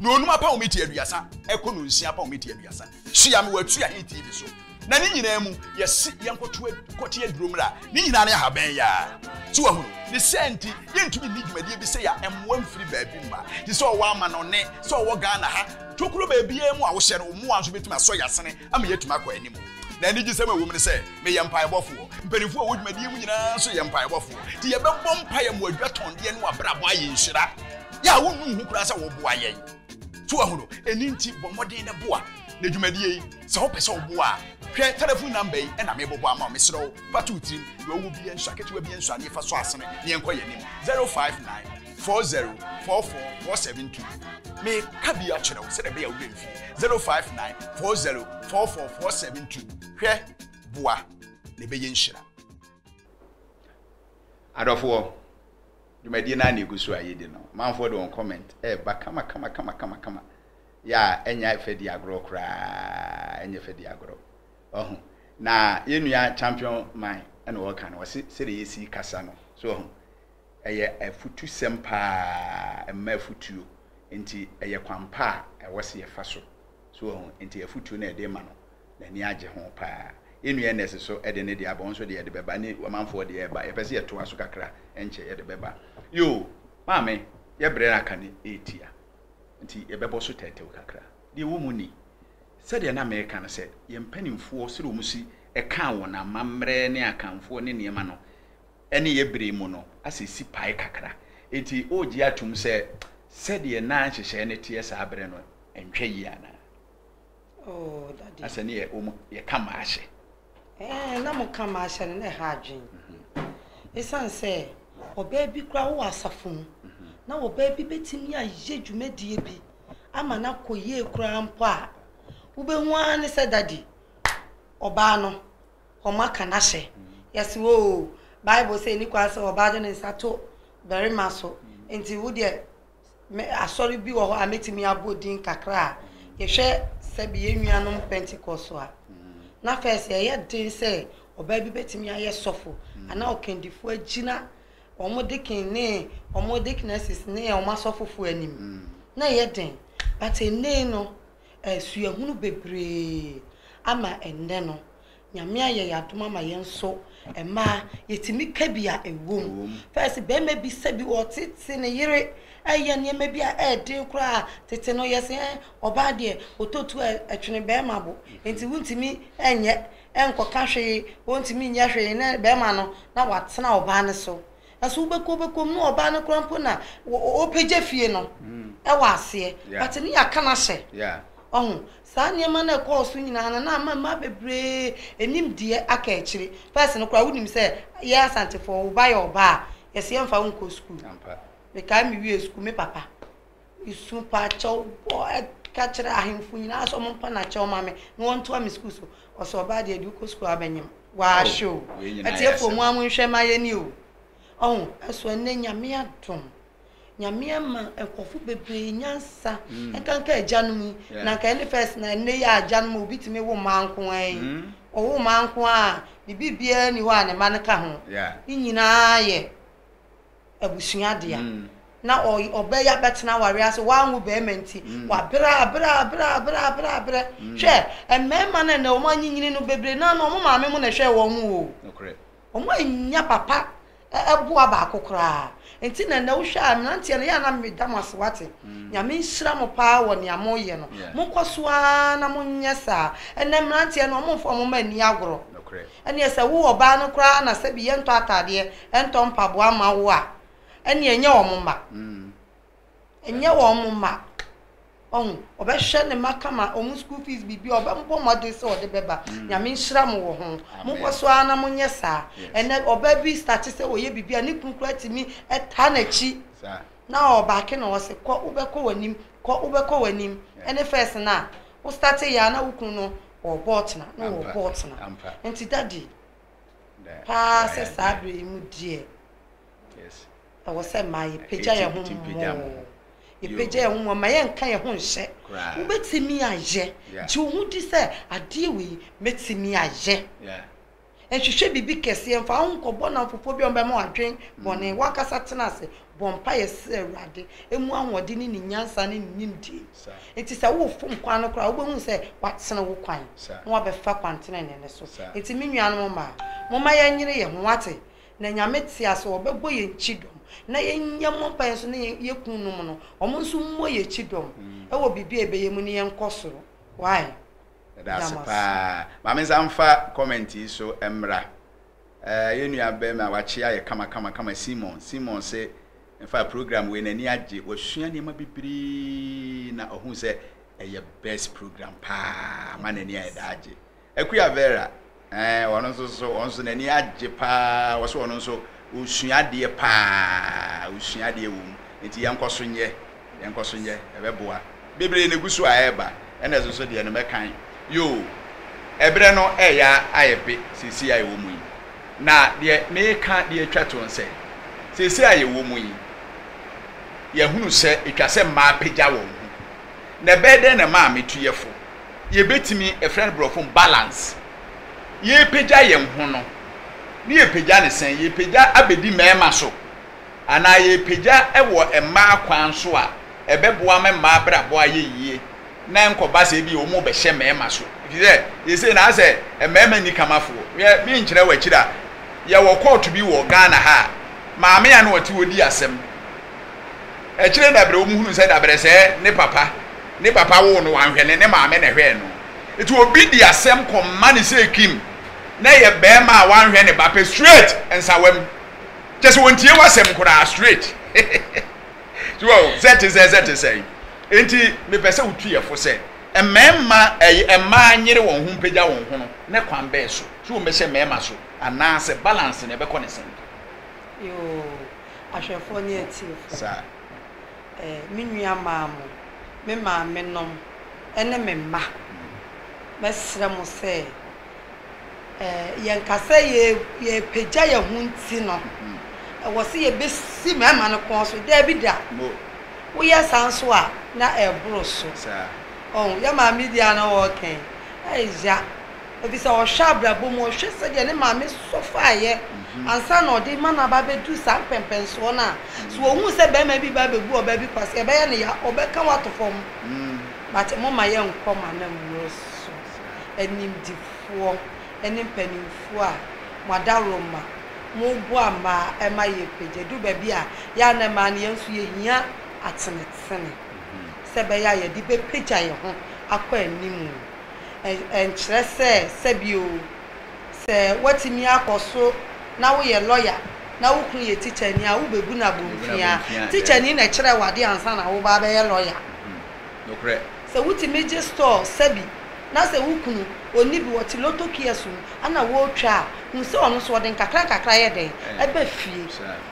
Na onum apɔwmiti aduasa ɛkɔ no nsia apɔwmiti aduasa. Tua me w'atua he TV so. Na ne nyinaa mu, yɛse yɛnkɔto kɔte aduro mmra. Ne nyinaa ne ahaban yaa. So wahunu? Ne saa nti, yɛntumi nni dwumadie bi sɛ ya mmoa mfiri baabi mma. Te sɛ ɔwɔ amanɔne, sɛ ɔwɔ Ghana ha, tokuro baabiara mu a wohyɛ no, wo mmoa nso bɛtumi asɔ y'asene ama yɛatumi akɔ anim. Na anigyesɛm a ɛwom ne sɛ meyɛ mpaebɔfoɔ. Mpanimfoɔ a ɛwɔ dwumadie mu nyinaa nso yɛ mpaebɔfoɔ. Nti yɛbɛbɔ mpaeɛ ma adwatɔndeɛ ne w'abrabɔ ayɛ nhyira. Yɛ a wonnu ho koraa sɛ woboa yɛn. So wahu no? Ɛno nti bɔ mmɔden na boa. Na dwumadie yi, sɛ wopɛ sɛ woboa a, hwɛ telefon namba yi na mebobɔ ama wo. Mesrɛ wo, fa to wo tirim. Deɛ ɔwɔ biara nsua, ketewa biara nsua, na yɛfa so asene na yɛnkɔ yɛn anim. 059. four zero four four four seven two meka bi akyerɛ wo sɛdeɛ ɛbɛyɛ a wobɛmfi zero five nine four zero four four four seven two hwɛ boa na ɛbɛyɛ nhyira adɔfoɔ dwumadie no a na ɛgu so a yɛdi no manfoɔ de wɔn comment ɛba kama kama kama kama kama yɛ a ɛnya ɛfɛ di agorɔ koraa ɛnyɛ fɛ di agorɔ ɔho na yɛnua champion man ɛna wɔka no wɔse sɛdeɛ yɛsi kasa no so ɔho Ɛyɛ afutusɛm paa, ɛma afutuo, nti ɛyɛ kwan pa a ɛwɔ sɛ yɛfa so. So wahu? Nti afutuo no a yɛde rema no, n'ani agye ho paa. Yɛn nua Ernest nso de ne deɛ aba, wo nso de yɛde bɛba, ne ɔmanfoɔ deɛ reba. Yɛpɛ sɛ yɛtoa so kakra, ɛnkyɛ yɛde bɛba. Yoo, maame, yɛn berɛ no aka no retia, nti yɛbɛbɔ so tɛwtɛw kakra. Deɛ ɛwɔ mu ni, sɛdeɛ na mereka no sɛ, yɛn mpanimfoɔ, sɛdeɛ wɔsi kaa wɔn amammerɛ ne Akanfoɔ ne nneɛma no, ne yɛ bere mu no asɛ sipae kakra. Enti wogye atom sɛ sɛdeɛ na nhyehyɛe no teɛ saa bere no ntwa yie anaa? Oh, Daddy. Asɛ ne yɛ, wɔn, yɛka maahyɛ. Ɛɛ, na moka maahyɛ no, na ɛha adwene. Esiane sɛ ɔbaa bi koraa wɔ asafo mu, na ɔbaa bi betumi ayɛ dwumadie bi ama no akɔ yie koraa mpo a, wobɛhu ara ne sɛ Daddy, ɔbaa no, wɔaka no ahyɛ. Yɛse oo Bible sɛ ɛni kwan sɛ ɔbaa de ne nsa to barima so nti wo deɛ me asɔre bi wɔ hɔ a mɛtumi abɔ din kakra a yɛhwɛ sɛbi yɛn nuanom Pentecost a na first ɛyɛ den sɛ ɔbaa bi bɛtumi ayɛ sɔfo anaa ɔkandifoɔ agyina wɔn deacon ne wɔn deaconesses ne wɔn asɔfofoɔ anim na ɛyɛ den but ɛnɛ no suahunu bebree ama ɛnnɛ no. Nyame ayɛ yɛn adom ama yɛn nso mmaa yɛtumi ka bi a ɛwɔ mu. Fɛs bɛrima bi sɛ bi ɔtete ne yere ɛyɛ nneɛma bi a ɛɛden koraa tete no yɛsɛ ɔbaa deɛ ɔtɔtu a ɛtwene bɛrima bo nti wontumi ɛnyɛ ɛnkɔka hwee ɔntumi nyɛ hwee ne bɛrima no na watena ɔbaa no so. Ɛso wobɛkɔ wobɛkɔ mu ne ɔbaa no koraa mpo na ɔpɛgya fie no wɔ aseɛ but ne yɛaka no ahyɛ ɔho saa nneɛma no ɛkɔɔ so nyinaa no na ama mmaa bebree ɛnim deɛ aka akyire first no koraa wonim sɛ yɛ asantefoɔ wo ba yɛ ɔbaa a yɛsɛ yɛmfa wo nkɔ sukuu mekae me wie sukuu me papa Su pa kyɛw bɔ ka kyerɛ ahemfo nyinaa sɛ ɔmompa no akyɛw ma me na wɔntoa me sukuu so. Ɔsɛ ɔbaa deɛ deɛ wokɔ sukuu a wobɛnyem. Waahwɛ o. Atiefoɔ mo ara monhwɛ ma yɛni o. Ɔho, ɛso ɛnnɛ Nyame adom. Nyame ama nkurɔfo bebree nyansa. Ɛnkanka agyanom yi. Na nka ɛne first na ɛnnɛ yi a agyanom a obi tumi wo mmaa nko ara yi. Ɔwo mmaa nko ara a, ne biribiara nni hɔ a ne mma no ka ho. Ne nyinaa yɛ. abusua dea. Na ɔbɛ yi abɛtena awareɛ ase, wanwo barima nti, wabrɛ a brɛ a brɛ a brɛ a brɛ a brɛ. Hwɛ, mmarima no a ɛnnɛ wɔanyinyin no bebree no ara no, wɔn maame mo na ɛhwɛɛ wɔn o. Wɔn annya papa boa baako koraa. Nti na ɛnnɛ wohwɛ a mmeranteɛ no, yɛ a na meda mo ase, woate. Nyame nhyira mo pa ara wɔ nea moyɛ no. Monkɔ so ara na monyɛ saa. Ɛnnɛ mmeranteɛ no, wɔmfa wɔn mma nni agorɔ. Ɛnneɛ sɛ wo ɔbaa no koraa na sɛbi yɛntɔ ataadeɛ, ɛntɔ mpaboa mma wo a, ɛnneɛ ɛnyɛ wɔn mma. Ɛnyɛ wɔn mma. Wahu? Ɔbɛhwɛ ne mma kama, wɔn school fees, biribiara, ɔbɛbɔ mmɔden sɛ ɔde bɛba. Nyame nhyira mo wɔ ho. Monkɔ so ara na monyɛ saa. Ɛnnɛ, ɔbaa bi starte sɛ ɔyɛ biribi a, ne kunu koraa tumi taa n'akyi, na ɔbaake na ɔse, kɔ, wobɛkɔ w'anim, kɔ, wobɛkɔ w'anim. Ɛne first no a, wo starteeɛ ara na wo kunu no Wɔrebɔ tena na wɔrebɔ tena. Nti daddy, paa sɛ saa berɛ yi mu deɛ, ɛwɔ sɛ mmaa yɛpagya yɛn ho mmɔɔ. Yɛpagya yɛn ho mmɔɔ, mma yɛnnka yɛn ho nhyɛ. Wobɛtumi ayɛ. Gye wo ho di sɛ adeɛ wei mɛtumi ayɛ. Nhwehwɛ biribi kɛseɛ, mfa wo ho nkɔbɔ nnamfo foforɔ bi a wɔbɛma wo adwen bɔne. W'ankasa tena ase, bɔ mpaeɛ srɛ Awurade mmu ahoɔden ne ne nyansa ne ne nimdie. Enti sɛ worefom kwan no koraa a, wobɛhunu sɛ watene wo kwan na wabɛfa kwan tenenee no so. Enti me nuanom mmaa, momma yɛnyere yɛn ho, moate? Na Nyame te ase, ɔbɛbɔ yɛn kyidɔm. Na yɛnyɛ mmɔ mpaeɛ nso ne yɛn kununom no, wɔn nso mmɔ yɛn kyidɔm wɔ biribi a yɛbɛyɛ mu ne yɛnkɔ soro. Why? Yɛda ase paa. Ma me nsa mfa comment yi so mmra. Eh, yɛn nua barima wakye ayɛ kama kama kama Simon. Simon se, in fact program wei n'ani agye. Wasua nneɛma bebree na ɔhuu sɛ ɛyɛ best program paa. Ama n'ani ayɛ daagye. Akua Vera. Ɛɛ, ɔno nso so, ɔno nso n'ani agye paa. Wɔsɛ ɔno nso ɔsua adeɛ paa, ɔsua adeɛ wɔ mu. Nti yɛnkɔ so nyɛ, yɛnkɔ so nyɛ, ɛbɛboa. Bebree na ɛgu so a ɛreba, ɛna ɛso so deɛ no mɛkan. Yoo, ɛberɛ no ɛreyɛ ayɛ pe seesei a yɛwɔ mu yi. Na deɛ mereka de atwa to nsɛ, seesei a yɛwɔ mu yi, yɛahunu sɛ ɛtwa sɛ mmaa pagya wɔn ho. Na ɛbɛyɛ dɛn na ɛmaa me tu yɛ fo? yɛbɛtumi, ɛfrɛ no borɔfo mu balance, yɛrepagya yɛn ho no, ne yɛpagya ne sɛn, yɛpagya abɛdi mmarima so, anaa yɛpagya wɔ mmaa kwan so a ɛbɛboa ma mmaa abrabɔ ayɛ yie, na ɛnkɔba sɛ ebi wɔn bɛhyɛ mmarima so, ɛfiri sɛ yɛsei na asɛ mmarima nni kamafoɔ, yɛ menkyerɛ wɔ akyiri a, yɛwɔ kɔɔto bi wɔ Ghana ha a, maame a na ɔte hɔ di asɛm, Akyire dabrɛ wɔn hunuu sɛ dabrɛ sɛ ne papa ne papa woo no wanhwɛ no ne maame na ɛhwɛɛ no nti obi de asɛm kɔ ma no sɛ Kim na ɛyɛ barima a wanhwɛ ne ba pɛ straight nsawam kyɛ sɛ wɔntie w'asɛm koraa straight so wɔ sɛ te sɛ sɛ te sɛ nti mepɛ sɛ wotu yɛ fo sɛ mmarima ɛyɛ mmaa nyere wɔn ho mpagya wɔn ho no ne kwan bɛɛ so so wɔn bɛhyɛ mmarima so anaasɛ balance na ɛbɛkɔ ne sɛn. ahwɛfoɔ ne atiefoɔ. Sa. Ɛ, me nua maa mo, me maame nom, ne me mma. Mɛsrɛ mo sɛ, ɛ, yɛn kasa yɛ, yɛrepagya yɛn ho nti no, ɛwɔ sɛ yɛbɛsi mmarima no kɔn so. Daabi da. Mo. Woyɛ saa nso a, na ɛreboro so. Sa. Ɔho, yɛn maame deɛ a na ɔreka yi, ɛyɛ ya. Efisɛ ɔhwɛ abrabɔ mu, ɔhwɛ sɛdeɛ ne maame sɔ faeɛ ansa na ɔde rema no aba abɛduru saa mpɛmpɛnsoɔ no a, sɛ ɔhunu sɛ barima bi reba abɛbu ɔbaa bi kwasea a, ɛbɛyɛ no ya, ɔbɛka wo ato fam. But momma yɛnkɔ mo anammuo so, animdefoɔ ne mpanimfoɔ a mo adaworoma, moboa mmaa ɛma yɛpagya. Ɛduru baabi a, yɛ a na mmaa no yɛn nso yɛhia atenetene sɛ ɛbɛyɛ a yɛde bɛpagya yɛn ho akɔ anim. ɛnkyerɛ sɛ sɛbio sɛ woatumi akɔ so na woyɛ lɔya na wo kunu yɛ tikyani a, wobɛbu no abomfiaa. Tikyani na ɛkyerɛɛ wo adeɛ ansa na woreba abɛyɛ lɔya. Sɛ wotumi gye store sɛbi na sɛ wo kunu ɔnni bi, ɔte lotto kiosk mu na wɔretwa a, hu sɛ ɔno nso ɔde nkakra nkakra yɛ dɛn? Ɛba fie.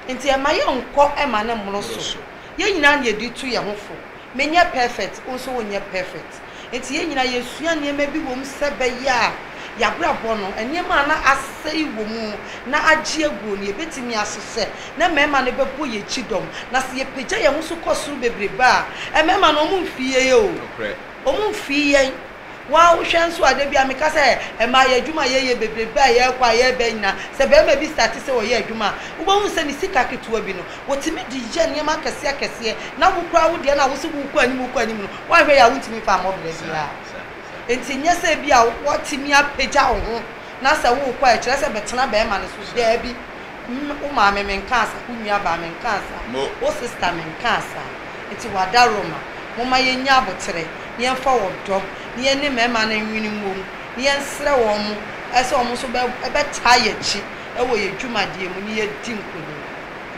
Nti ɛmma yɛnkɔ mma no mmoro so. Yɛn nyinaa na yɛde retu yɛn ho fo. Me nyɛ perfect, wo nso wo nyɛ perfect. Enti yɛn nyinaa yɛsua nneɛma bi wɔ mu sɛ ɛbɛyɛ a yɛn abrabɔ no, nneɛma a na asɛe wɔ mu na agye aguo no, yɛbɛtumi asesɛ na mmarima no bɛbɔ yɛn akyi dɔm. Na sɛ yɛpagya yɛn ho so kɔ soro bebrebe a, mmarima no wɔn mfii yɛn o, Nokorɛ. wɔn mfii yɛn. Wo ara wohwɛ nso a, da biara meka sɛ mmaa yɛ adwuma a yɛyɛ bebrebe a yɛkɔ a yɛba nyinaa, sɛ barima bi starte sɛ ɔyɛ adwuma a, wobɛhu sɛ ne sika ketewa bi no, wɔtumi de yɛ nneɛma akɛseɛ akɛseɛ, na wo koraa wo deɛ no a wo se worekɔ anim worekɔ anim no, woanhwɛ yɛ a wontumi mfa mmɔ berɛ biara. Enti nyɛ sɛ ebia woatumi apagya wo ho na sɛ worekɔ a ɛkyerɛ sɛ bɛtena barima no so, daabi. Mme, wo maame menkaa saa, wo nuabaa menkaa saa, Mo. wo sista menkaa saa. Nti wadaroma, momma yɛnnya aboterɛ na yɛmfa ɔdɔ na yɛne mmarima no nwene mmom na yɛnsrɛ wɔn sɛ wɔn nso bɛ, bɛtaa yɛn akyi wɔ yɛn dwumadeɛ mu na yɛadi nkonim.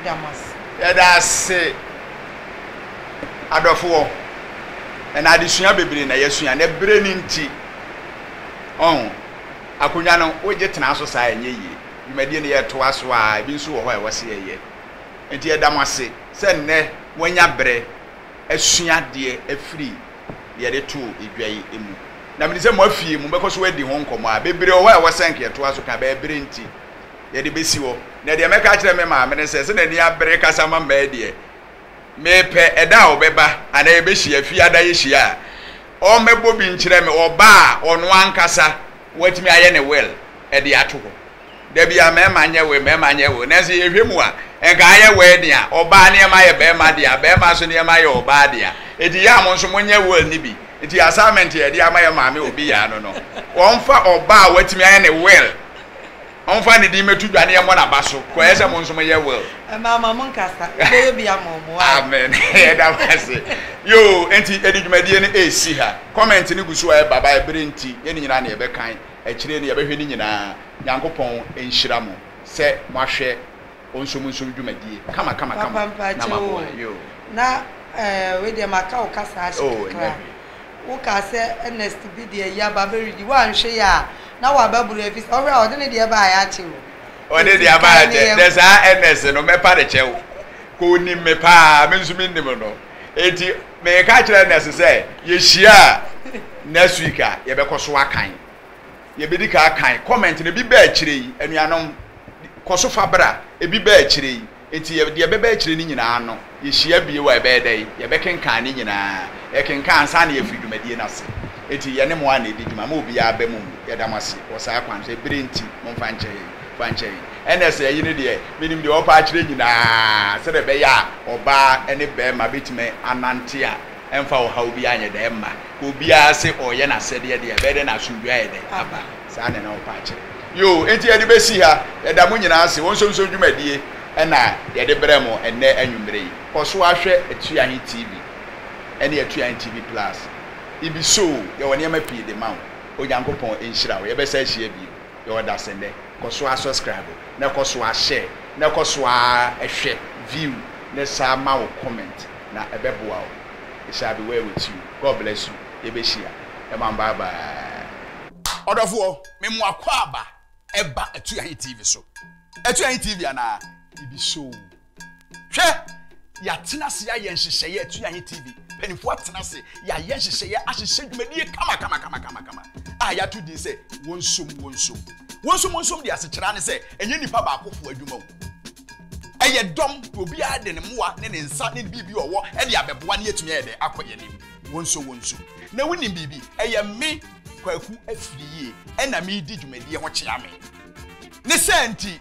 Yɛda mo ase. Yɛda ase adɔfoɔ, ɛnna adesua bebree na yɛasua, na berɛ no nti, ɔho, akonnwa no wogye tena so saa a ɛnyɛ yie. dwumadie no yɛtoa so a, ebi nso wɔ hɔ a ɛwɔ sɛ yɛyɛ. Enti yɛda mo ase sɛ nnɛ moanya berɛ asua adeɛ afiri deɛ yɛde too dwa yi mu. Na mede sɛ moafie, mobɛkɔ so adi ho nkɔmmɔ a bebree wɔ hɔ a ɛwɔ sɛ anka yɛtoa so ka, bɛɛ berɛ nti yɛde bɛsi hɔ. Na deɛ mɛka akyerɛ me maame ne sɛ, sɛ n'ani abere kasa ma mmaa deɛ, Mepɛ ɛda a ɔbɛba anaa yɛbɛhyia fie adaehyia a, ɔmmɛbɔ bi nkyerɛ me, ɔba a, ɔno ankasa watumi ayɛ ne will de ato hɔ. Da biara mmarima nyɛ will, mmarima nyɛ will, nanso yɛhwɛ mu a, nka ayɛ wedding a, ɔbaa nneɛma yɛ barima dea, barima nso nneɛma yɛ ɔbaa dea. Enti yɛ a mo nso monyɛ will no bi. Enti assignment a yɛde ama yɛn maame Obiyaa no no, ɔmfa ɔba a watumi ayɛ ne will. Ɔmfa ne din mɛto dwa ne yɛmmɔ n'aba so. Kɔ ɛyɛ sɛ mo nso moyɛ will. Ɛmaa ma monkasa. Wobɛyɛ bi ama wɔn. Why? Amen. Yɛda mo ase. Yoo, enti yɛde dwumadie no resi ha. Comment no gu so a ɛba, bae bere nti, yɛn no nyinaa na yɛbɛkan. Akyire no, yɛbɛhwɛ ne nyinaa. Nyankopɔn nhyira mo sɛ moahwɛ. Ɔnsom nsom dwumadie kama kama kama Papa mpakyɛw na ama boa oo yoo. Na eh wei deɛ maka wo kasa ahye Oh kakra. ɛnyɛ hwee. Wo kaa sɛ Ernest bi deɛ ayi aba abɛredi. Wo anhwɛ yie a na wabɛboro ɛfiri sɛ wohwɛ a ɔde ne deɛ baeɛ akyɛ o. Ɔde Nti deɛ abaeɛ kae ne akyɛ. Dɛ yɛn. saa Ernest no mɛpa no kyɛw. Kɔ ɔnim me paa me nso me nnim no. Ɛnti meka kyerɛ Ernest sɛ yɛhyia a next week a yɛbɛkɔ so akan. Yɛbɛdi kan akan comment no, ebi ba akyire yi, anuanom, kɔ so fa bra, ebi ba akyire yi, enti yɛ, deɛ ɛbɛba akyire no nyinaa no, yɛhyia bio a yɛbɛyɛ dɛn? Yɛbɛkenkan ne nyinaa, yɛkenkan ansa na yɛafiri dwumadie no ase. Enti yɛne mo ara na ɛdi dwuma, ma obiara aba mu, yɛda mo ase wɔ saa kwan so, ɛberɛ nti, momfa nkyɛ yɛn, fa nkyɛ yɛn. Ɛnna sɛ ayi no deɛ, menim deɛ wɔpa akyerɛ nyinaa, sɛdeɛ ɛbɛyɛ a ɔbaa ne barima bɛtumi anante a. Ɛmfa ɔhaw biara nyɛ dɛn mma. Obiara se ɔreyɛ n'asɛdeɛ deɛ, ɛbɛyɛ dɛn na asomdwoeɛ ayɛ dɛn aba? Saa na na wɔpɛ akyerɛ. Yoo, enti yɛde bɛsi ha. Yɛda mo nyinaa ase. Ɔnsonso dwumadie na yɛde brɛɛ mo ɛnnɛ anwummerɛ yi. Kɔ so ara hwɛ Atuahe TV ne Atuahe TV Plus. Ibisoo, yɛwɔ nneɛma pii de ma wo. Onyankopɔn nhyira wo. Yɛbɛsan ahyia bio. Yɛ ɔdasɛ ndɛ, kɔ so ara suscribe na kɔ so ara share na kɔ so ara hwɛ, view, ne saa ma wo comment na ɛbɛboa wo It shall be well with you God bless you Yɛbɛhyia Ɛma no bye bye. Ɔdɔfoɔ, me mo akwaaba ɛba Atuahe TV so. Atuahe TV anaa? Ibi soo. hwɛ yɛatena ase yɛayɛ nhyehyɛeɛ atu yɛayɛ tv mpanimfoɔ atena ase yɛayɛ nhyehyɛeɛ ahyehyɛ dwumadie kamakamakamakama a yɛato din sɛ wɔnsom wɔnsom wɔnsom wɔnsom de asekyerɛ ne sɛ ɛnyɛ nipa baakofo adwuma o ɛyɛ dɔm obiara de ne mmoa ne ne nsa ne biribi ɔwɔ ɛde abɛboa ne yɛtumi ayɛ dɛ akɔ yɛn anim wɔnsom wɔnsom na wonim biribi ɛyɛ me kwaku afiri yie ɛna medi dwumadie ho kyea me ne sɛ nti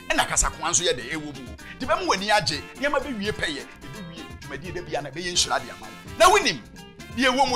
Ɛna kasakoa nso yɛ dɛ ɛwɔ mu o de bɛma w'ani agye, nneɛma bɛwie pɛyɛ, ɛbɛwie dwumadie da biara na ɛbɛyɛ nhyira de ama wo. Na wonim deɛ ɛwɔ mu.